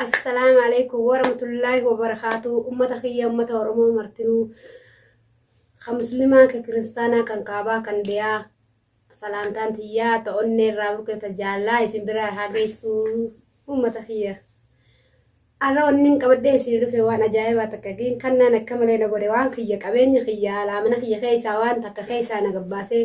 Assalaamu alaikum warahmatullaahi wabarakaatuu ummata kiyya ummata oromoo martinuu ka muslimaa ka kiristaanaa kan kaabaa kan dhiyaa salaamtaan tiyyaa ta onnee irraa burqe ta jaallaa isin biraa haa geessuu ummata kiyya arra wannin qabadhee isin dhufe waan ajaa'ibaa takka giin kannaan akka malee na godhe waan kiyya qabeenya kiyya alaa mana kiyya keessaa waan takka keessaa na gabbaasee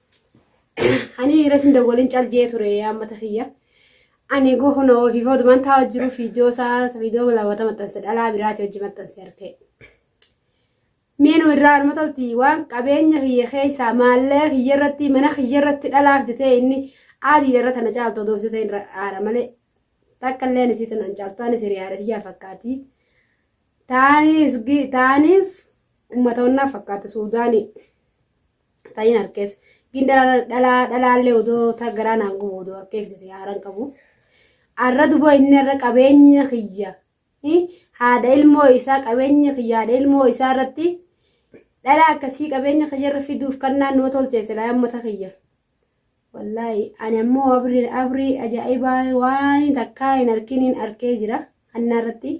Ani irratti hin dawwalin cal jee ture ammata kiyya. Ani goo kun ofii foodu man taa'u jiru fiidiyoo isaa fiidiyoo laawwata maxxanse dhalaa biraati hojii maxxanse argee. Miinu irraa arma tolti waan qabeenya kiyya keessaa maallee kiyya irratti mana kiyya irratti dhalaaf jetee inni aadiidha irra tana caaltu odoo jetee irra aara malee takka illee ani siitu nan caaltu ani siriyaadha tiyyaa fakkaati. Taanis taanis uummata onnaa fakkaatu suudaanii. ta'iin harkees gindara dhalaa dhalaallee odoo ta garaa naan gubu odoo harkee fidate haaran qabu arra duba inni irra qabeenya kiyya haadha ilmoo isaa qabeenya kiyya haadha ilmoo isaa irratti dhala akkasii qabeenya kiyya irra fiduuf kan naannoo tolcheesse laa ammata kiyya. Wallaahi ani ammoo abrii abrii ajaa'ibaa waan takkaa hin harkiniin arkee jira hannaa irratti.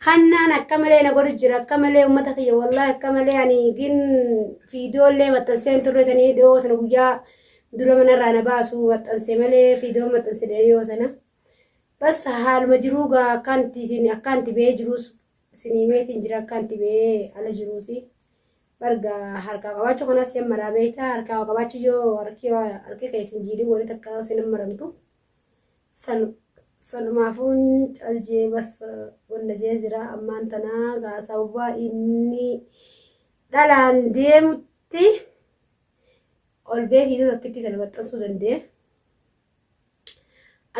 Hannaan akka malee na godhu jira akka malee uummata kiyya wallahi akka malee ani gin fiidoo illee maxxansee hin turre tanii dhiyoo sana guyyaa dura manarraa na baasu maxxanse malee fiidoo maxxanse dhiyoo sana. Bas haaluma jiruu gaa akkaanti isin akkaanti ba'ee jiruus isinii meetiin jira akkaanti ba'ee ala jiruusi. Barga harkaa qabaachuu kanas sin maraa beektaa harkaa qabaachuu yoo harki harki kee isin jiidhii walitti akka isin maramtu. Salu salumaafu hin cal jee bas walla jee jiraa ammaan tanaa gaa sababaa innii dhalaan deemutti ol bee viidiyoo tokkittii tana maxxansuu dandee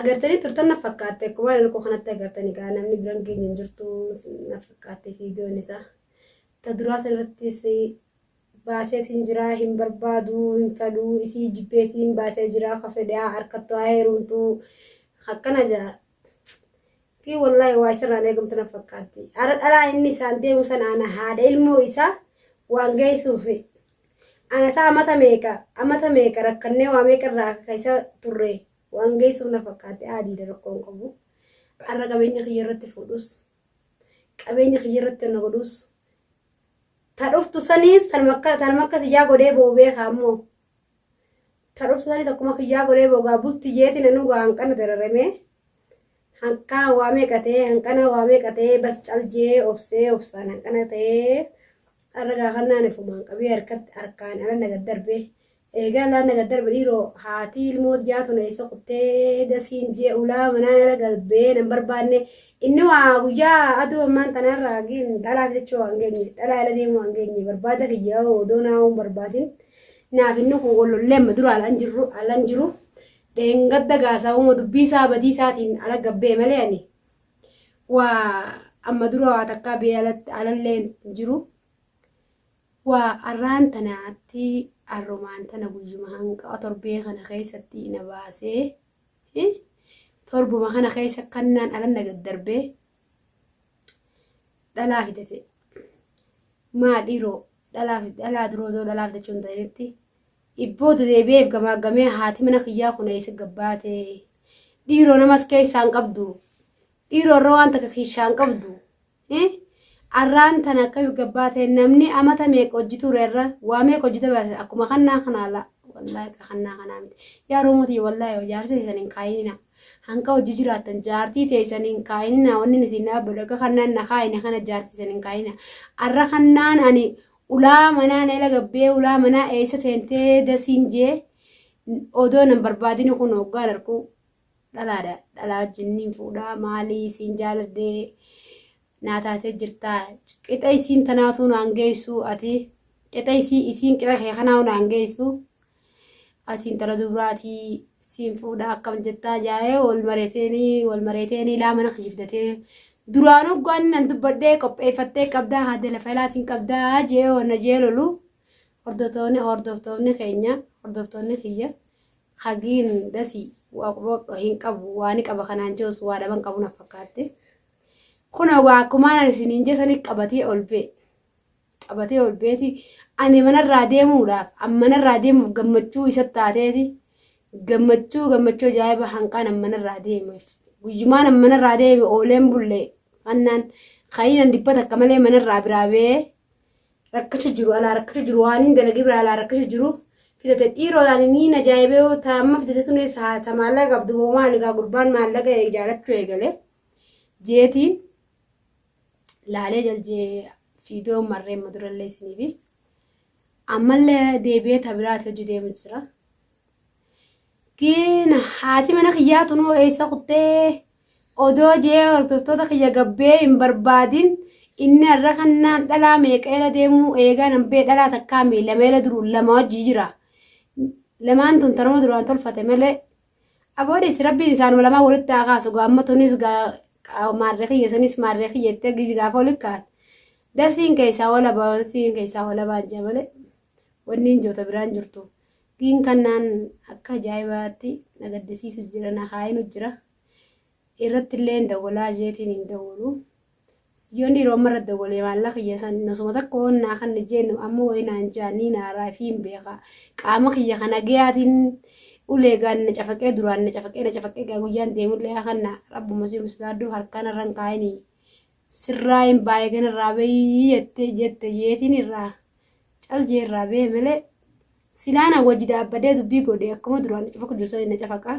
agartanii turtan na fakkaatte akkuma ani koo kanatti agartanii gaa namni biran geenye hin jirtu na fakkaatte viidiyoon isaa ta duraa sanirrattis baaseetiin jiraa hin barbaaduu hin fedhuu isii jibbeetiin baasee jiraa ka fedhe haa arkattu haa heerumtuu akkana jaa kii wallaahi waa isarraan eegamtu na fakkaatti ara dhalaa inni isaan deemu sana ana haadha ilmoo isaa waan geessuuf ana isaa amata meeqa amata meeqa rakkannee waa meeqa irraa akka isa turre waan geessuuf na fakkaatti aadiidha rakkoon qabu arra qabeenya kiyya irratti fuudhus Qabeenya kiyya irratti wanna godhuus. Ta dhuftu saniis tanuma akka tanuma akka siyyaa godhee boo beekaa ammoo. Ta dhuftu saniis akkuma kiyyaa godhee boo gaa bulti jeeti nanuu gaa hanqana dararamee. Hanqana waa meeqa ta'ee hanqana waa meeqa ta'ee bas cal jee obsee obsaan hanqana ta'ee. Arra gaa kan naan ifumaan qabee harkatti harkaan ala na gad darbee. Eegaa laan naga darba dhiiroo haatii ilmoo tiyyaa tun eessa kuttee dasiin jee ulaa manaa nara galbee nan barbaanne inni waa guyyaa aduu ammaan tanaan raagiin dhalaaf jechuu waan geenye dhalaa ila deemuu waan geenye barbaada kiyya odoo naawuun barbaadin naaf inni kun olollee amma dura alaan jirru alaan jiru dheengadda gaasaawuma dubbii isaa badii isaatiin ala gabbee malee ani waa amma dura waa takkaa bee alallee jiru. Wa, arraan tana atti arrumaan tana guyyuma hanqawa torbee kana keessatti na baasee hi torbuma kana keessa kannaan alan na gaddarbee dhalaa fidate maa dhiiroo dhalaa fi dhalaa duroo doo dhalaa fidachuu hin ta'initti ibboo dedeebi'eef gamaaggamee haati mana kiyyaa kun eessa gabbaatee dhiiroo namas keessaan qabdu dhiiroo irra waan takka kiishaan qabdu Hii arraan tana akkayu gabbaa ta'e namni amata meeqa hojji ture irra waa meeqa hojji dabarse akkuma kannaa kanaa laa wallaahi ka kannaa kanaa miti yaa roomoo tiyya wallaahi jaarsa isan hin kaayinina hanqa hojji jiraattan jaartii ta'e isan hin kaayinina wanni isin dhaabbadhu akka kannaan na kaayine kana jaartii isan hin kaayina arra kannaan ani ulaa manaa na ila gabbee ulaa manaa eessa teentee dasiin jee odoo nan barbaadini kun hoggaan arkuu dhalaadha dhalaa wajjin niin fuudha maalii siin jaaladhee naa taatee jirtaa qixa isiin tanaatuu naan geessu ati qixa isii isiin qixa kee kanaa naan geessu ati intala dubraatii siin fuudha akkam jettaa jaa'ee wal mareeteenii wal mareeteenii laa mana kijibdatee duraan hoggaan nan dubbadhee qopheeffattee qabdaa haadha lafa ilaatiin qabdaa jee wanna jee lolu hordoftoonni hordoftoonni keenya hordoftoonni kiyya Hagiin dasii waqwaq hin qabu waani qaba kanaan joos waa dhaban qabu na fakkaatte kunoo gaa akkumaan ani isiniin jesani qabatee ol bee qabatee ol beeti ani manarraa deemuudhaaf an manarraa deemuuf gammachuu isa taateeti gammachuu gammachuu ajaa'iba hanqaan an manarraa deeme guyyumaan an manarraa deeme ooleen bullee kannaan kayinan dibbata akka malee manarraa biraa bee rakkacha jiru alaa rakkacha jiru waan hin dalagee biraa alaa rakkacha jiru fidate dhiiroo taani niin ajaa'ibee yoo ta amma fidate tunis haa ta maallaqa qabdu moo maali gaa gurbaan maallaqa ijaarachuu eegale jeetiin laalee jaljee fiidoo marree madurallee isiniifi ammallee deebi'ee ta biraati hojii deemu jira Giina haati mana kiyyaa tunoo eessa kuttee odoo jee hordoftoota kiyya gabbee hin barbaadin inni har'a kannaan dhalaa meeqeela deemuu eegaa nan bee dhalaa takkaa mii lameela duruu lama wajjii jira. Lamaan tun tanuma duraan tolfate malee aboodis rabbiin isaanuma lamaan walitti haa kaasu gaamma tunis maarree kiyya sanis maarree kiyya itti gaafa walitti kaa'an. Darsiin keessaa walabaa darsiin keessaa walabaa jaa malee. Wannin joo ta biraan jirtu. Gin kan naan akka ajaa'ibaatti na gaddisiisu jira na kaayinu jira. Irrattilleen dawwalaa jeetiin hin dawwalu. Yoon dhiiroo amma irratti dawwalee maallaa kiyya san nasuma takka waan naa kan jennu amma wayii naan jaa nii naaraa fi hin beeka. Qaama kiyya kana gayaatiin ulee gaan na cafaqee duraan na cafaqee na cafaqee gaa guyyaan deemullee akanna rabbuma si musdaadduu harkaan irran kaayinii. Sirraa hin baayee gana irraa bayii jette jette jeetiin irraa cal jee irraa bee malee silaa na wajji daabbadee dubbii godhe akkuma duraan na cafaqu jiru sani na cafaqa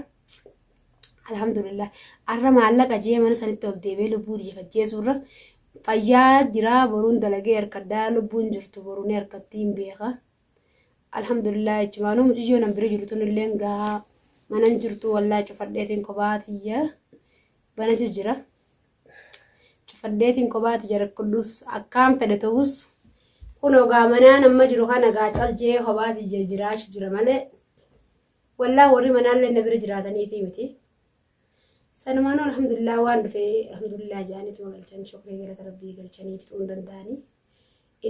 alhamdulillah arra maallaqa jee mana sanitti ol deebee lubbuu tiyya fajjeesuu irra fayyaa jiraa boruun dalagee harkaddaa lubbuun jirtu boru ni harkattii hin beeka alhamdulillah jechumaanuu muciyyoo nan bira jiru tunillee gahaa manan jirtu wallaa cufadheetiin kophaa tiyya banatu jira. cufadheetiin kophaati jarakkudhus akkaan fedhe ta'us kun ogaa manaan amma jiru kana gaa calji'ee kophaati je- jiraachu jira malee wallaa warri manaallee na bira jiraataniitii miti sanumaanuu alhamdulillah waan dhufee alhamdulillah ja'aniituma galchan shukrii galata rabbii galchanii fixuu hin danda'anii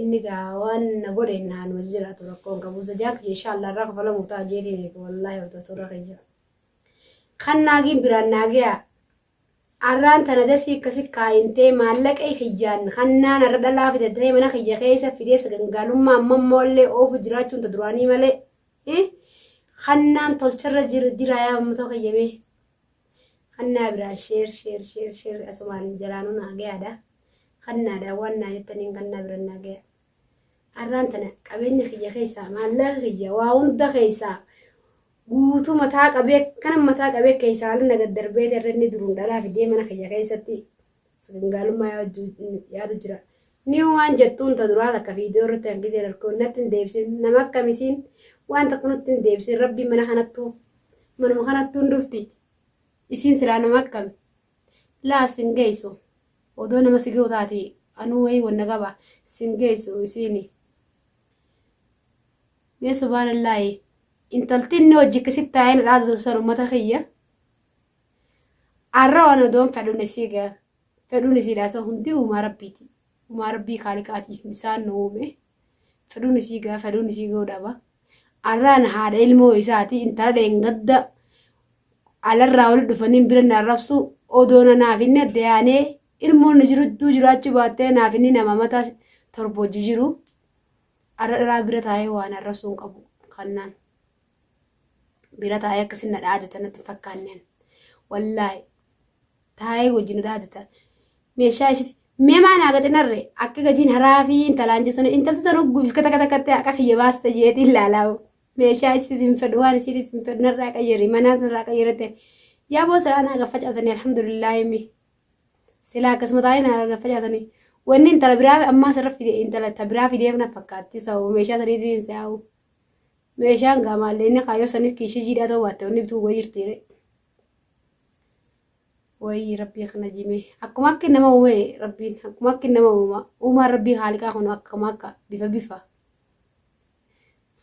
inni gaa waan na godhe naa nu jiraatu rakkoon qabu zajaak je inshaallah irraa kafalamu ta'a jeetiin eega wallaahi hordoftoota kiyya kan naagiin biraan naagiyaa Arraan tana dasii akkasi kaayintee maallaqai kiyyaan hannaa narra dhalaa fidatee mana kiyya keessa fidee sagangaalummaa ammammoo illee oofu jiraachuun ta duraanii malee hi hannaan tolcharra jir jiraa yaa ummatoo kiyya mee hannaa biraan sheer sheer sheer sheer asumaan jalaanuu naa gayaadha hannaadha waan naa jettaniin hannaa biraan naa gaya arraan tana qabeenya kiyya keessaa maallaqa kiyya waa hunda keessaa guutuu mataa qabee akkanan mataa qabee keessaa ala na gad darbee irra inni duruun dhalaa fidee mana kiyya keessatti sagangaalummaa yaadu yaadu jira. Ni waan jettuun ta duraa takka viidiyoo irratti kan giseen arkoon natti hin deebisin nama akkamisiin waan takka nutti hin deebisin rabbiin mana kanattuu manuma kanattuu hin dhufti isiin silaa nama akkami laa sin geessu odoo nama si ga'u taate anuu wayii wanna qaba sin geessu isiini. Mee subaanallaahi intalti inni hojji akkasitti taa'ee na dhaadatu san ummata kiyya arra waan odoon fedhuun isii ga fedhuun isiidhaa san hundi uumaa rabbiiti uumaa rabbii kaaliqaati isaan nu uume fedhuun isii ga fedhuun isii ga'uu dhaba arraan haadha ilmoo isaati intala dheengadda alarraa wali dhufaniin bira na arrabsu odoona naaf inni adda yaanee ilmoon nu jirudduu jiraachuu baattee naaf inni nama mataa torba hojii jiru Arra dhiraa bira taa'ee waan arrasuu hin qabu kannaan bira taa'ee akkasin na dhaadata natti hin fakkaanne ani. Wallaahi taa'ee wajjin na dhaadata meeshaa isiti mee maa naa gaxinarre akka gatiin haraa fi intalaan jechuun intalti san hogguu fi kata kata kattee haqa kiyya baasta jeetii ilaalaawu meeshaa isiti hin fedhu waan isiti hin fedhu narraa qayyari manaa narraa qayyarate yaa boo siraa naa gaffa caasanii alhamdulillaahi mi Silaa akkasuma taa'ee na gaffacaasanii. Wanni intala biraa ammaa sarara fide intala ta biraa fideef na fakkaatti sababa meeshaa saniitiin hin se'aa'u. Meeshaan gaa maallee inni kaayoo sanis kiishii jiidhaa ta'uu baatte wanni bituu goga jirtiire. Wayii rabbii kana jimee akkuma akki nama uumee rabbiin akkuma akki nama uuma uumaan rabbii haaliqaa kun akkuma akka bifa bifa.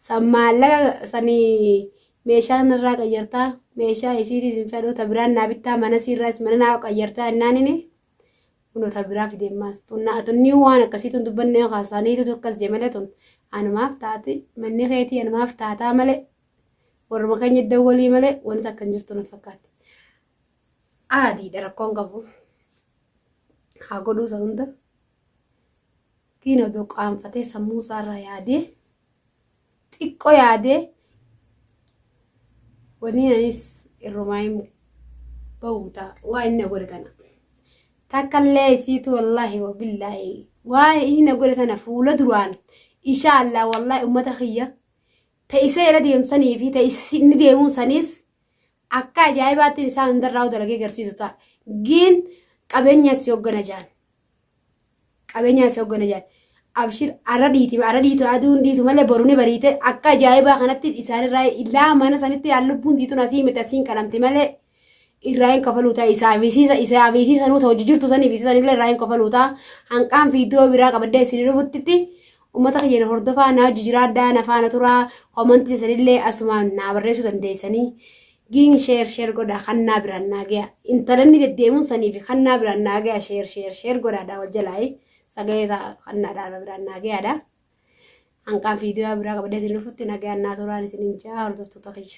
San maallaqa san meeshaa narraa qayyartaa meeshaa isiitii isin fedhuu ta biraan naa bittaa mana siirraas mana naa qayyartaa innaanini kunoo ta biraa fidee maas tunnaa tunnii waan akkasii tun dubbannee haasaaniitu tokkas jee malee tun anumaaf taati manni keetii anumaaf taataa malee warruma keenya iddoo walii malee wanti akka hin jirtu na fakkaatti. Aadiidha rakkoon qabu haa godhuu isa hunda. Tiin odoo qaanfatee sammuu isaa irraa yaadee xiqqo yaadee wanii anis irrumaayim ba'uu ta'a waa inni na godhe tana takkallee isiitu wallaahi wabillaahi waa inni na godhe tana fuula duraan ishaa allaa wallaahi ummata kiyya ta isa irra deemsanii fi ta inni deemuu saniis akka ajaa'ibaatti isaan hundarraa dalagee garsiisu ta'a giin qabeenyas si hoggana jaan Qabeenyaa si hoggana jedhan. Abshir arra dhiiti arra dhiitu aduun dhiitu malee boru ni bariite akka ajaa'ibaa kanatti isaanirraa ilaa mana sanitti yaa lubbuun tiitun asii miti asiin qalamti malee irraa hin kafaluu ta'a isaa fi isiisa isaa fi isiisa nuuta hojii jirtu sanii fi isiisan illee irraa hin kafaluu ta'a hanqaan fi iddoo biraa qabaddee isin dhufuttitti uummata keenya hordofaa naa hojii jiraadhaa na faana turaa komantii isanillee asumaan naa barreessuu dandeessanii Ging share share godhaa kannaa biraan naa gayaa intalanni deddeemuun sanii fi kannaa biraan naa gayaa share share share godhaadhaa wal jalaayi sagalee isaa kannaadhaa na biraan naa gayaadhaa hanqaan fiidiyoo biraa qabadee isin dhufutti nagayaan naa turaan isin hin jaa hordoftoota kiyya.